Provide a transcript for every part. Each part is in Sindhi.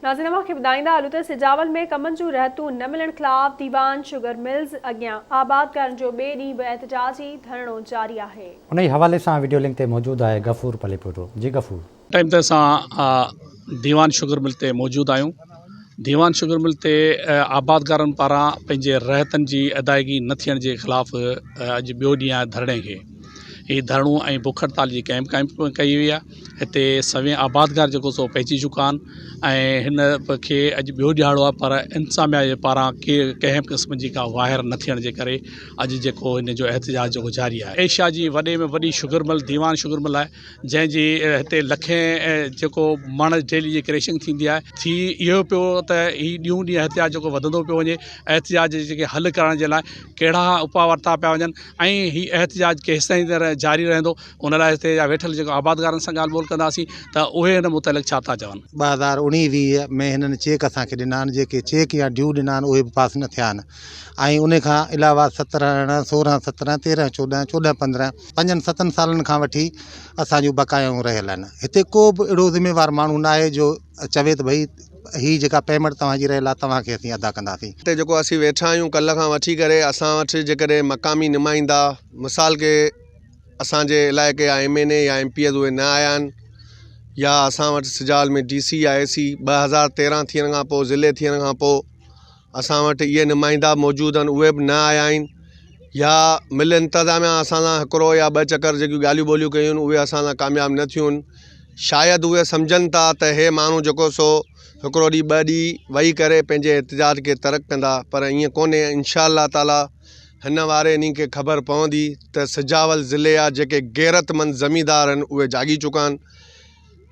ناظرين اوهان کي ٻڌائيندا هلون ته سجاول ۾ ڪمن جون رهتون نه ملڻ خلاف ديوان شگر ملز اڳيان آبادگارن جو ٻئي ڏينهن به احتجاجي ڌرڻو جاري آهي. انهيء حوالي سان وڊيو لنڪ تي موجود آهي غفور پليپوٽو جي غفور. ٽائيم تي اسان ديوان شگر مل تي موجود آهيون ديوان شگر مل تي آبادگارن پاران پنهنجي رهتن جي ادائيگي نه ٿيڻ جي خلاف اڄ ٻيو ڏينهن آهي ڌرڻي کي. هي ڌرڻو ۽ بک هڙتال جي ڪئمپ قائم ڪئي وئي آهي هتي سوين آبادگار جيڪو سو پهچي چڪا آهن ۽ هن کي اڄ ٻيو ڏهاڙو آهي پر انتظاميا جي پاران ڪي ڪنهن به قسم جي ڪا واهر نه ٿيڻ جي ڪري اڄ جيڪو هن جو احتجاج جيڪو جاري آهي ايشيا جي وڏي ۾ وڏي sugar mill Dewan sugar mill آهي جنهن جي هتي لکين جيڪو مڻ ڊيلي جي ڪريشنگ ٿيندي آهي ٿي اهو پيو ته هي ڏينهون ڏينهن احتجاج جيڪو وڌندو پيو وڃي احتجاج جي جيڪي حل ڪرڻ جي لاء ڪهڙا اپاء ورتا پيا وڃن ۽ هي احتجاج ڪيستائين طرح جاري رهندو ان لاء هتي جا ويٺل جيڪو آبادگارن سان ڳالهه ٻولهه ڪنداسين ته اهي ان متعلق ڇا ٿا چون ٻه هزار اوڻيهه ويهه ۾ هنن چيڪ اسان کي ڏنا آهن جيڪي چيڪ يا ڊيو ڏنا آهن اهي به پاس نه ٿيا آهن ۽ ان کان علاوه سترهن ارڙهن سورهن سترهن تيرهن چوڏهن چوڏهن پندرهن پنجن ستن سالن کان وٺي اسان جون بقايائون رهيل آهن هتي ڪو به اهڙو ذميوار ماڻهو ناهي جو چوي ته ڀئي هي جيڪا پيمنٽ توهان جي رهيل آهي توهان کي اسين ادا ڪنداسين. هتي جيڪو اسين ويٺا آهيون ڪلهه کان وٺي ڪري اسان وٽ جيڪڏهن مقامي نمائندا مثال ڪي اسان جي علائقي جا ايم اين اي يا ايم پي ايز اهي نه آيا آهن يا اسان وٽ سجاول ۾ ڊي سي يا اي سي ٻه هزار تيرهن ٿيڻ کان پوء ضلعي ٿيڻ کان پوء اسان وٽ اهي نمائندا موجود آهن اهي به نه آيا آهن يا مل انتظاميا اسان سان هڪڙو يا ٻه چڪر جيڪي ڳالهيون ٻولهيون ڪيون آهن اهي اسان سان ڪامياب نه ٿيون آهن شايد اهي سمجهن ٿا ته اهي ماڻهو جيڪو سو هڪڙو ڏينهن ٻه ڏينهن وئي ڪري پنهنجي احتجاج کي ترڪ ڪندا پر ائين ڪونهي انشاء الله تعالٰي هن واري انهن کي خبر پوندي ته سجاول ضلعي جا جيڪي غيرتمند زميندار آهن اهي جاڳي چڪا آهن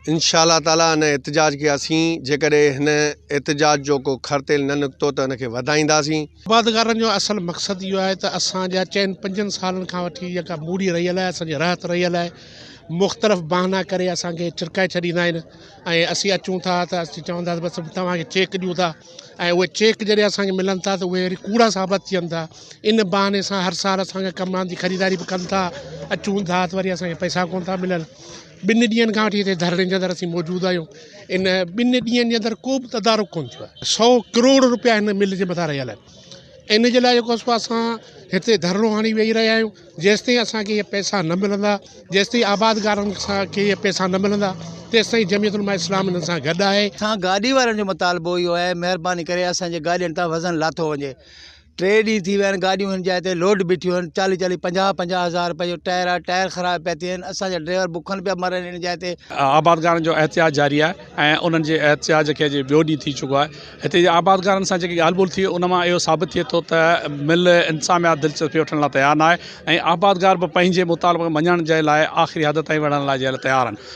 انشاء الله تعالٰي ان احتجاج کي اسين جيڪڏهن هن احتجاج جو ڪو کر تيل نه نڪتو ته ان کي وڌائينداسين آبادگارن جو اصل مقصد اهو آهي ته اسان جا چئن پنجن سالن کان وٺي جيڪا ٻوڏي رهيل آهي اسان جي رهت رهيل آهي مختلف بهانا ڪري اسان کي ڇرڪائي ڇڏيندا آهن ۽ اسين اچون ٿا ته اسين چوندا بس توهان کي چيڪ ڏيون ٿا ۽ اهي چيڪ جڏهن اسان کي ملن ٿا ته اهي وري ڪوڙا ثابت ٿين ٿا ان بهاني سان هر سال اسان کي ڪم آندي خريداري به ڪن ٿا اچون ٿا ته وري اسان کي پئسا ڪون ٿا ملن ٻن ڏينهن کان وٺي هتي ڌرڻي جي اندر اسين موجود آهيون ان ٻن ڏينهن جي اندر ڪو به تدارڪ ڪون ٿيو آهي سو ڪروڙ رپيا هن مل جي مٿان رهيل آهن ان جي لاء جيڪو اسان هتي ڌرڻو هڻي ويهي رهيا آهيون جيستائين اسانکي اهي پئسا نه ملندا جيستائين آبادگارن سان کي اهي پئسا نه ملندا تيستائين جميعت علماء اسلام انهن سان گڏ آهي اسان گاڏي وارن جو مطالبو اهو آهي مهرباني ڪري اسانجي گاڏين تان وزن لاٿو وڃي ٽي ڏينهن ٿي ويا آهن گاڏيون هن جاء تي لوڊ بيٺيون آهن چاليهه چاليهه پنجاهه پنجاهه هزار رپئي جو ٽائر آهي ٽائر خراب پيا ٿي وڃن اسان جا ڊرائيور بکن پيا مرن هن جاء تي. آبادگارن جو احتجاج جاري آهي ۽ انهن جي احتجاج کي اڄ ٻيو ڏينهن ٿي چڪو آهي هتي جي آبادگارن سان جيڪي ڳالهه ٻولهه ٿي ان مان اهو ثابت ٿئي ٿو ته مل انساميات دلچسپي وٺڻ لاء تيار ناهي ۽ آبادگار به پنهنجي مطالبن کي مڃڻ جي لاء آخري حد تائين وڙهڻ لاء جي لاء تيار آهن